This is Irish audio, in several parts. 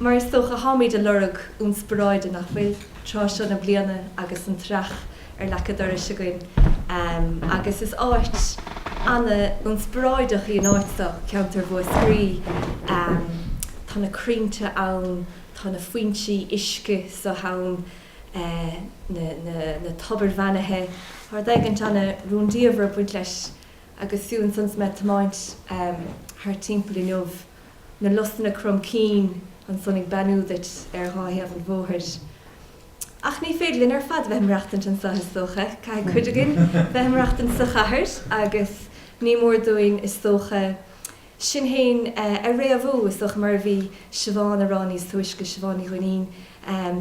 Mar is dócha, táimid ag lorg ionspioráide, nach bhfuil, tráth seo na bliana agus an t-earrach ar leac a' dorais againn agus is áit ana-ionspioráideach í an áit seo, ceantar Mhúscraí. Tá na crainnte ann, tá na foinsí uisce seo ann, na tobair bheannaithe, tá rud éigint ana-rúndiamhair ag baint leis agus fiú ansan is mé ag tiomáint thart timpeall inniu, na lusanna crom cinn ansan ag beannú duit ar dhá thaobh an bhóthair. Ach ní féidir linn ar fad bheith ag maireachtaint anso, is dócha. Caithfidh cuid againn bheith ag maireachtaint sa chathair agus ní mór dúinn, is dócha, sinn féin a fhréamhú, is dócha, mar a bhí Siobhán a rá níos túisce, Siobhán Ní Dhuinnín.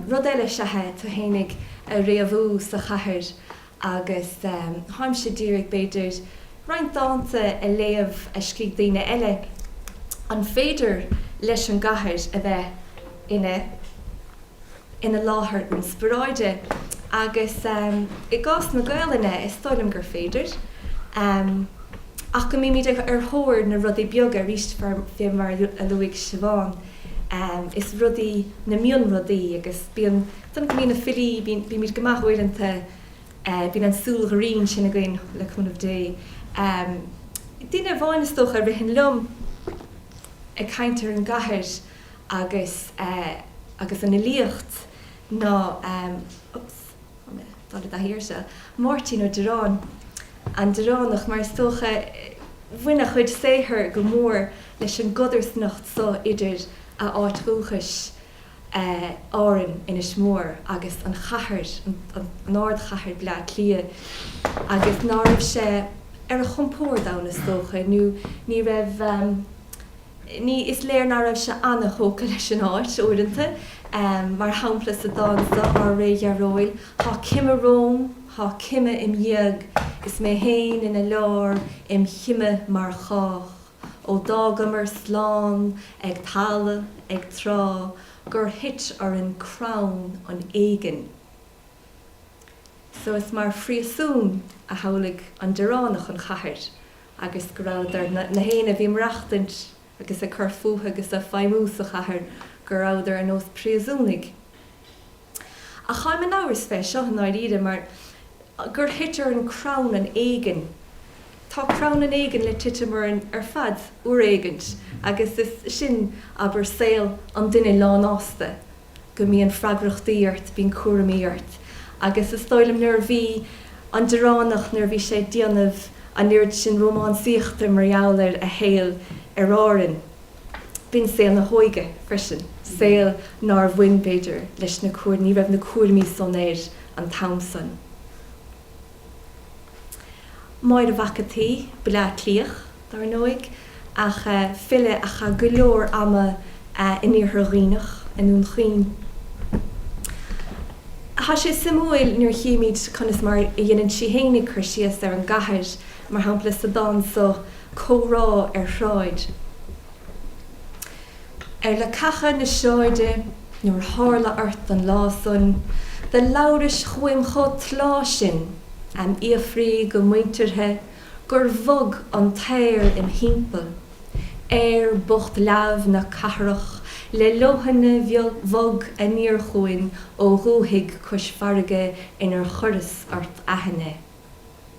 Rud eile, sea, tú fhéinig a fhréamhú sa chathair. agus táimse d'iarraidh, b'fhéidir, roinnt dánta a léamh a scrígh daoine eile. An féidir leis an gcathair a bheith ina ina láthair ionspioráide? Agus i gcás na Gaolainne, is dóigh liom gur féidir, ach go mbímid ar thóir na rudaí beaga, arís, fé mar a luaigh Siobhán, is rudaí, na mionrudaí, agus bíonn. San go mbíonn na filí, bíonn, bímid go maith uaireanta, bíonn an tsúil ghrinn sin againn, le cúnamh Dé. Duine amháin, is dócha, a ritheann liom ag caint ar an gcathair agus, agus an fhilíocht ná, oops, thá mé ag dul i dtaithí air seo, Máirtín Ó Direáin, An Direánach, mar is dócha, bhain a chuid saothair go mór leis an gcodarsnacht so idir a áit dhúchais, Árann, Inis Mór agus an chathair, an ardchathair Bleá Cliath, agus ná raibh sé ar a chompórd ann, is dócha, nó ní raibh, ní, is léir ná raibh sé ana-thógtha leis an áit, uaireanta, mar shampla sa dán so, Ár Ré Dhearóil, Thá cime romham, thá cime im dhiaidh, is mé féin ina lár, im chime mar chách. Ó d'fhágamar slán ag talamh, ag trá, gur thit orainn crann an éigin. So is mar phríosún a shamhlaigh an Direánach an chathair agus go rabhadar, nach éinne a bhí ag maireachtaint agus ag cur fúthu agus ag feidhmiú sa chathair, go rabhadar ar nós príosúnaigh. Ach táim in amhras fé seo i ndáiríre mar gur thit orainn crann an éigin. Tá crann an éigin le titim orainn ar fad uair éigint agus is sin, abair, saol an duine lánfhásta, go mbíonn freagrachtaí ort, bíonn cúraimí ort. Agus is dóigh liom nuair a bhí an Direánach, nuair a bhí sé ag déanamh an oiread sin rómánsaíochta mar gheall ar a shaol ar Árainn, B'in saol na hóige freisin, saol nár bhain, b'fhéidir, leis na, ní raibh na cúraimí san air an t-am san. Máire Mhac a' tSaoi, Baile Átha Cliath, dar ndóigh, ach file a chaith go leor ama in Iarthar Dhuibhneach, i nDún Chaoin. Tá sé suimiúil nuair a chímid conas mar a dhéanann sí fhéinig cur síos ar an gcathair, mar shampla, sa dán so. comhrá ar shráid. Ar leacacha na sráide nuair tharla ort an lá san, do labhrais chugham chomh tláth sin am' fhiafraí go muinteartha gur bhog an t-aer im thimpeall, aer bocht leamh na cathrach le leoithne bhog aniar chugainn ó dhúthaigh cois farraige inar chuireas ort aithne.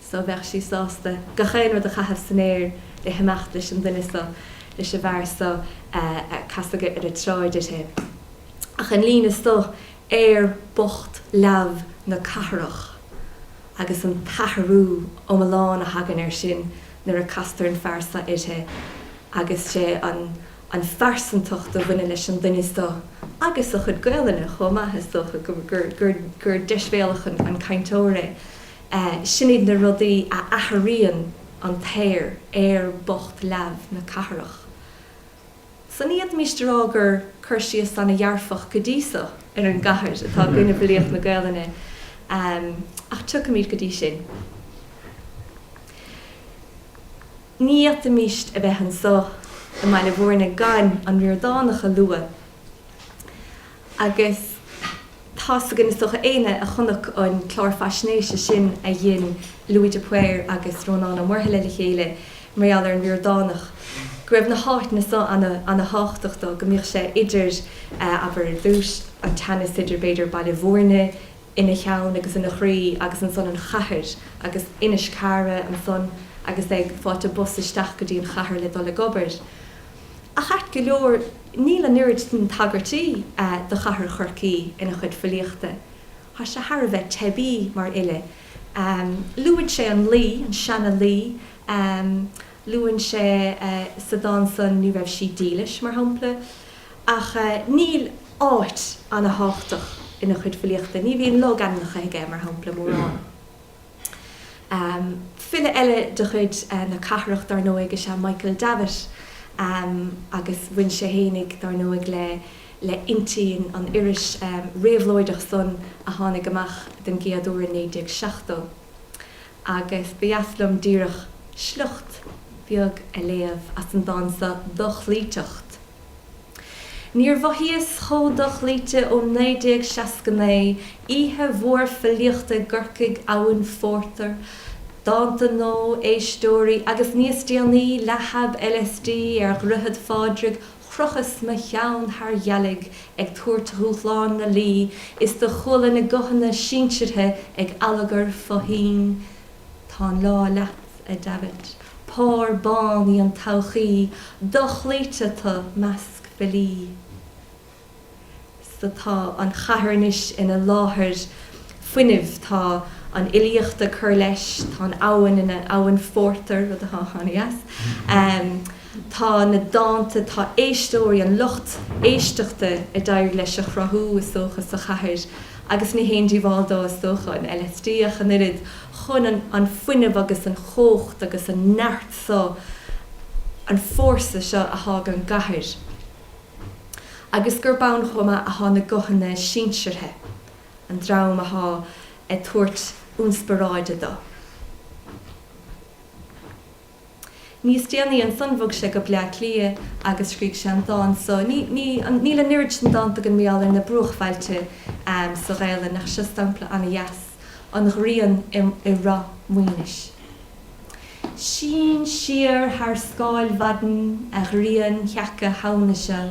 so, bheadh sí sásta gach aon rud a chaitheamh san aer le himeacht leis an duine so, leis an bhfear so a casadh ar an tsráid uirthi. Ach an líne so, Aer bocht leamh na cathrach, agus an t-athrú iomlán a thagann air sin nuair a castar an fear so uirthi agus sé an phearsantacht a bhaineann leis an duine so, agus a chuid Gaelainne chomh maith, is dócha, gur deisbhéalach an cainteoir é. Sin iad na rudaí a athraíonn an t-aer, aer bocht leamh na cathrach. So ní fhéadfaimis a rá gur cur síos ana dhearfach go dtí so ar an gcathair atá againn i bhfilíocht na Gaolainne, ach tiocfaimid go dtí sin. Ní fhéadfaimis a bheith anso i mBaile Mhúirne gan an Ríordánach a lua Agus tá's againn, is dócha, éinne a chonac an clár faisnéise sin a dhein Louis de Paor agus Rónán Ó Muirthile le chéile mar gheall ar an Ríordánach, go raibh na háiteanna so ana thábhachtach dó, go mbíodh sé idir, abair ar dtúis, an teannas idir, b'fhéidir, Baile Mhúirne ina cheann agus ina chroí agus ansan an chathair agus Inis Cara ansan agus é ag fáilt bus isteach go dtí an chathair le dul ag obair. Ach ait go leor, níl an oiread sin tagairtí do chathair Chorcaí ina chuid filíochta. Tá sé thar a bheith teibí mar fhile. Luann sé an Laoi, an seana Laoi. Luann sé sa dán san Ní Raibh Sí Dílis, mar shampla. Ach níl áit ana thábhachtach ina chuid filíochta. Ní bhíonn logainmneacha aige, mar shampla, mórán. File eile de chuid na cathrach, dar ndóigh, is ea Michael Davitt agus bhain sé fhéinig, dar ndóigh, le Innti, an iris réabhlóideach san a tháinig amach den gcéad uair in 1970. Agus ba dheas liom díreach sliocht beag a léamh as an dán so, 'Dochloíteacht'. Níor mhothaíos chomh dochloíte ó 1969, oíche mhór filíochta i gCorcaigh, abhainn phórtair, dánta nua, éisteoirí, agus níos déanaí, leath-thab LSD ar Dhroichead Phádraig, chrochas mo cheann thar ghealaigh ag tabhairt dhúshlán na Laoi is do chuala na guthanna sinseartha ag allagar fó thoinn, Tá an lá leat, a Davitt. Pár bán í an todhchaí dochloíte tú i measc filí. So tá an chathair anois ina láthair fuinnimh, tá an fhilíocht ag cur leis, tá an abhainn ina habhainn phórtair, rud atá ana-dheas, tá na dánta, tá éisteoirí, an lucht éisteachta a d'éirigh leis a chruthú is dócha sa chathair, agus ní haon díobháil dó is dócha an LSD ach an oiread, chun an fuinneamh agus an chumhacht agus an neart so, an fórsa seo atá ag an gcathair, agus gurb ann chomh maith atá na guthanna sinseartha, an dream atá ag tabhairt ionspioráide dó. Níos déanaí ansan bhog sé go Bleá Cliath agus scrígh sé an dán so. Níl an oiread san dánta againn really ar na bruachbhailte sa Ghaelainn ach seo sampla ana-dheas, 'An Ghrian i Ráth Maoinis'. Sín siar thar scáil mhaidin a ghrian sheaca Shamhna seo,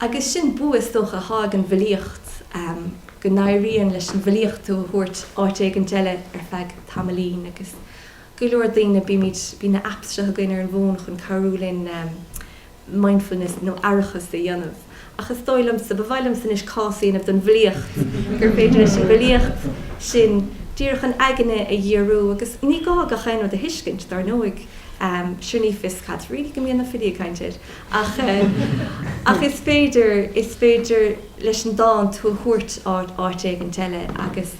Agus sin bua, is dócha, atá ag an bhfilíocht, go n-éiríonn leis an bhfilíocht tú a thabhairt áit éigint eile ar feadh tamaillín. Agus go leor daoine, bímid, bíonn na apps seo againn ar an bhfón chun cabhrú linn mindfulness nó aireachas a dhéanamh. ach is dóigh liomsa, ba mhaith liomsa anois cás a dhéanamh don bhfilíocht, gur féidir leis an bhfilíocht sin díreach an aigne a dhíriú, agus ní gá gach aon rud a thuiscint, dar ndóigh, sure ní fios cad really go mbíonn na filí ag caint air, ach ach is féidir, is féidir leis an dán tú a thabhairt áit éigint eile agus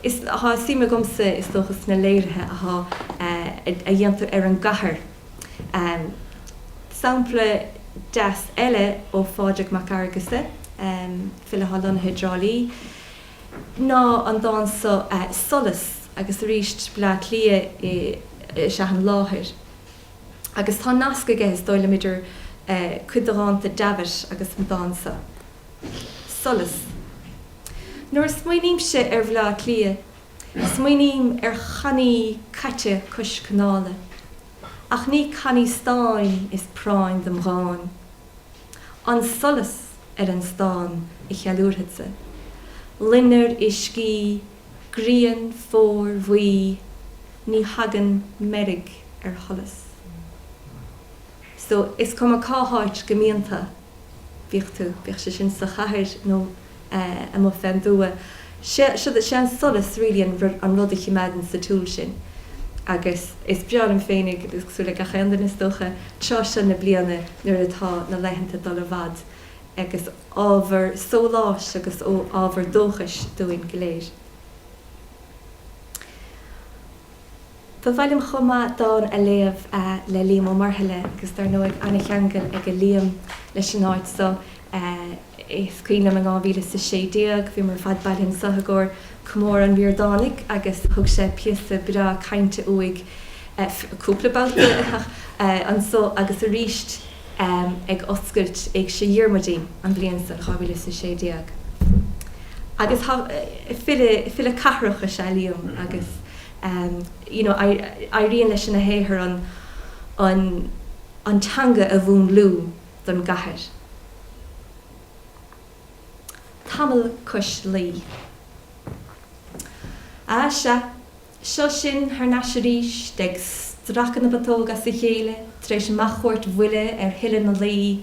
is, tá suim agamsa, is dócha, sna léirithe a dhéantar ar an gcathair. Sampla deas eile ó Phádraig Mac Fheargusa, file atá lonnaithe i dTrá Lí, ná an dán so, Solas, agus arís Bleá Cliath is ea an láthair. Agus tá nasc aige, is dóigh liom, idir cuid de dhánta Davitt agus an dán so, Solas. Nuair a smaoinímse ar Bhleá Cliath, Smaoiním ar channaí caite cois canála, ach ní cannaí stáin is práinn dom dhán. An solas ar an stán a cheiliúrfadsa, loinnir uiscí, grian, fómhair, bhuí, ní thagann meirg ar sholas. So, is cuma cá háit go mbíonn tú, bíodh tú, bíodh sé sin sa chathair nó amuigh fén dtuath, sé sé an solas really an rud a chimeádann sa tsiúl sinn. Agus is breá liom féinig, cosúil le gach aon duine is dócha, tráth seo na bliana nuair atá na laethanta dul i bhfad agus ábhar sóláis agus ábhar dóchais dúinn go léir. Ba mhaith liom chomh maith dán a léamh le Liam Ó Muirthile agus dar ndóigh an-cheangal aige Liam leis an áit so. Is cuimhin liom in dhá mhíle is a sé déag bhíomar ar fad bailithe anso i gcomhair comóradh an Ríordánaigh agus thug sé píosa breá cainte uaidh cúpla babhta anso agus arís ag oscailt Éigse Dhiarmuidín an bhliain san, dhá mhíle is a sé déag. Agus file cathrach is ea Liam agus. Éiríonn leis ina shaothar an teanga a mhúnlú don gcathair. Tamall cois Laoi. Á sea, seo sinn thar n-ais arís, ag stracadh na bputóg as a chéile tar éis mo chuairt bhuile ar thuile na Laoi.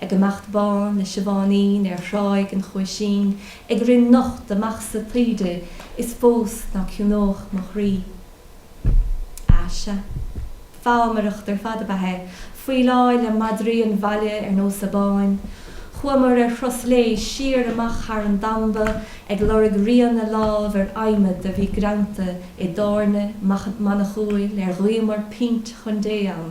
Ag imeacht bán le Siobháinín ar Thráigh an Chuaisín ag rith nocht amach sa taoide is fós ná ciúnódh mo chroí. Á, sea. Fámaireacht ar fad ab ea é, faoileáil le madraí an bhaile ar nós Abáin. Chuamar ar thuras lae siar amach thar an damba ag lorg rian na lámh ar adhmad a bhí greanta i dtábhairne manachúil ar ghuíomar pint chun Dé ann.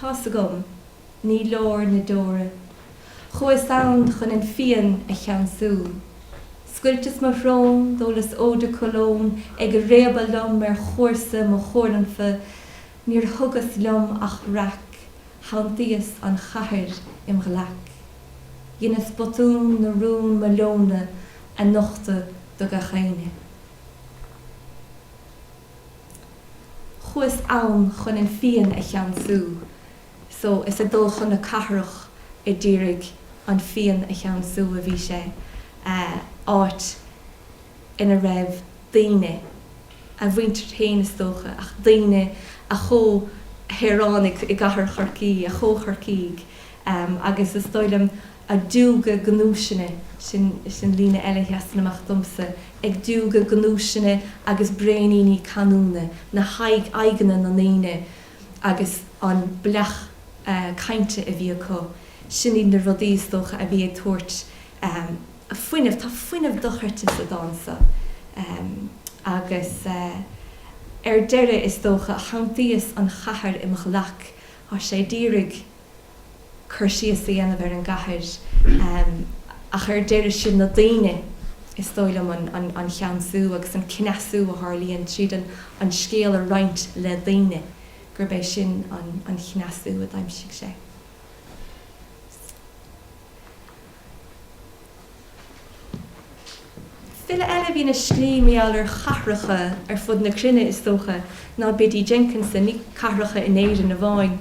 Tá's agam, ní leor na deora. Chuas ann chun an phian a cheansú. Scoilteas mo shrón, d'ólas eau de Cologne ag réabadh liom ar chúrsa mo chuaranfa, níor thugas liom ach raic, shantaíos an chathair im ghlaic. Dheineas botún na rún mo leonadh a nochtadh do gach éinne. Chuas ann chun an phian a cheansú so is ag dul chun na cathrach a d'iarraidh an phian a cheansú a bhí sé, áit ina raibh daoine, a mhuintir féin is dócha, ach daoine, a chomhshaoránaigh i gcathair Chorcaí, a chomh-Chorcaígh, agus is dóigh liom, ag diúgadh gnúiseanna, sin an líne eile a sheasann amach domsa, ag diúgadh gnúiseanna agus braoiníní canúna, na haghaidh, aghaidheanna na ndaoine agus an bleacht cainte a bhí acu, sin iad na rudaí, is dócha, a bhí ag tabhairt fuinneamh, tá fuinneamh dochreidte sa dán seo agus ar deireadh, is dócha, shantaíos an chathair i mo ghlac, tá sé d'iarraidh. cur síos a dhéanamh ar an gcathair, ach ar deireadh siad na daoine, is dóigh liom, an cheansú agus an cneasú a tharlaíonn tríd an scéal a roinnt le daoine, gurb é sin an cneasú a d'aimsigh sé. File eile a bhíonn ag síorthriall ar chathracha ar fud na cruinne, is dócha, ná Biddy Jenkinson. Ní cathracha in Éirinn amháin.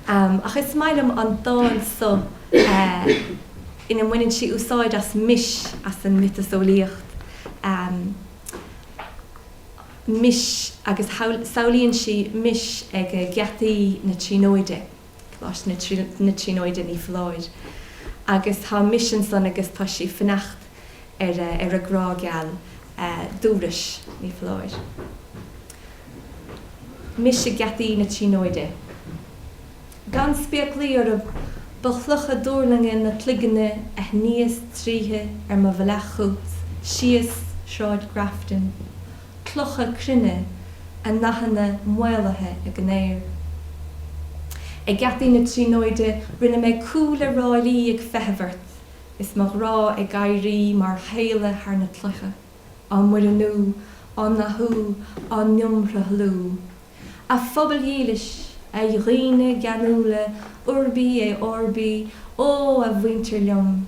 Ach is maith liom an dán so ina mbaineann sí úsáid as Mis, as an miotaseolaíocht, Mis, agus samhlaíonn sí Mis ag geataí na Tríonóide. Coláiste na Tríonóide, ní foláir, agus tá Mis ansan agus tá sí ag fanacht ar a grá geal. Dubh Rois, ní foláir. Mis ag geataí na Tríonóide. Gan spéaclaí orm, ba chlocha duirlinge na cloigne a shníos tríothu ar mo bhealach chugat síos Sráid Grafton. clocha cruinne, a ndathanna maolaithe ag an aer. Ag geataí na Tríonóide rinne mé cúl le ráillí ag feitheamh ort, is mo ghrá ag éirí mar sháile thar na clocha, á muirniú, á ndathú, á n-iomshruthlú. A phobail dhílis, a dhaoine geanúla Urbi et Orbi, ó, a mhuintir liom!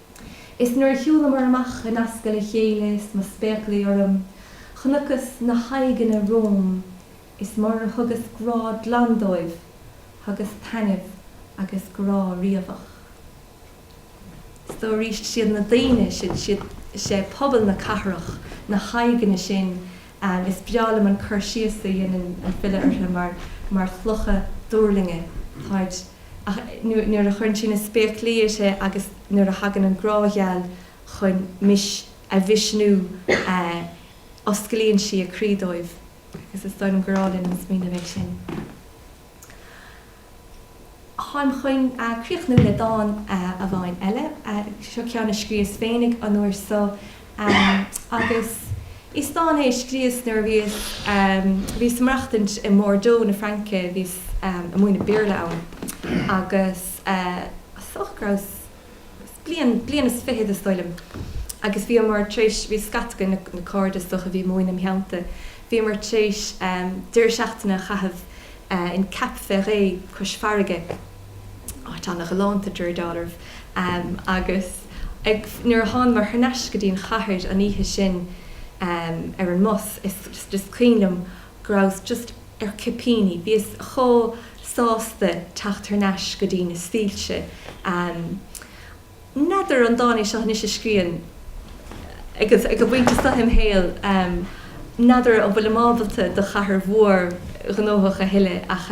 Is nuair a shiúlamar amach in ascaill a chéile is mo spéaclaí orm, chonacthas na haghaidheanna romham is murar thugas grá glan dóibh, thugas taitneamh agus grá riabhach. So arís, siad na daoine, siad, siad, is é pobal na cathrach, na haghaidheanna sin Is breá liom an cur síos a dhéanann an file orthu mar mar chlocha duirlinge, táid, ach nuair a chuireann sí na spéaclaí uirthi agus nuair a thagann an grá gheal chun Mis a mhisniú osclaíonn sí a croí dóibh. Agus is dóigh liom gur álainn an smaoineamh é sin. Táim chun críochnú le dán amháin eile. Seo ceann a scríos féinig an uair so agus is dán é a scríos nuair a bhíos bhíos ag maireachtaint i mBordeaux na Fraince bhíos a' múineadh Béarla ann agus is dócha go rabhas bliain, bliain is fiche d'aois is dóigh liom, agus bhíomar tar éis, bhí scata againn, na, na cairde is dócha a bhí ag múineadh im theannta, bhíomar tar éis deireadh seachtaine a chaitheamh in Cap Ferret cois farraige, áit an-ghalánta, de réir dealraimh, agus ag, nuair a thánamar thar n-ais go dtí an chathair an oíche sin ar an mbus, is, is cuimhin liom, go rabhas just ar cipíní, bhíos chomh sásta teacht thar n-ais go dtí na soilse. N'fheadar an dán é seo anois a scríobhfainn agus ag an bpointe seo im shaol, n'fheadar an bhfuilim ábalta do chathair mhór ghnóthach a thuilleadh ach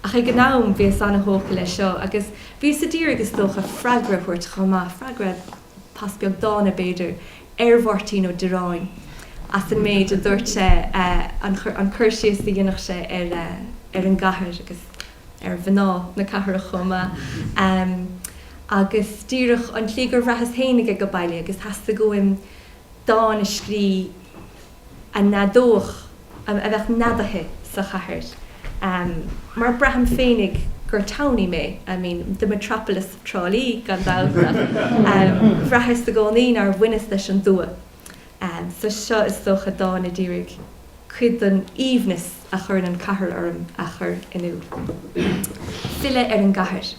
ach ag an am bhíos an-thógtha leis seo agus bhíos a d'iarraidh is dócha freagra a thabhairt chomh maith, freagra. Pas beag dána, b'fhéidir, ar Mháirtín Ó Direáin as an méid a dúirt sé, an cur síos a dhéanfadh sé ar an gcathair agus ar mhná na cathrach chomh maith. Agus díreach an tslí gur bhraitheas féinig age baile agus theastaigh uaim dán a scrí. a neadódh, a bheadh neadaithe sa chathair, mar braithim féinig gur townie mé, I mean, the metropolis Trá Lí, gan dabht, ach bhraitheas i gcónaí nár bhaineas leis an dtuath. So seo is dócha dán a d'iarraidh cuid den aoibhneas a chuireann an cathair orm a chur in iúl. Filleadh ar an gCathair.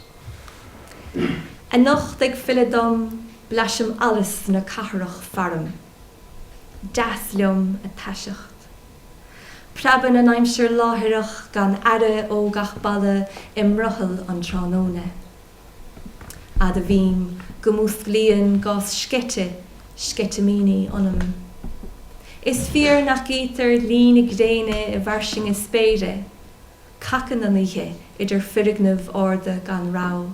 Anocht ag filleadh dom blaisim allus na cathrach faram. deas liom a taiseacht. Preabann an aimsir láithreach gan aire ó gach balla i mbrothall an tráthnóna. Admhaím go músclaíonn gás sceite sceitimíní ionam. Is fíor nach gcítear luí na gréine i bhfairsinge spéire. Cacann an oíche idir foirgnimh arda gan rabhadh.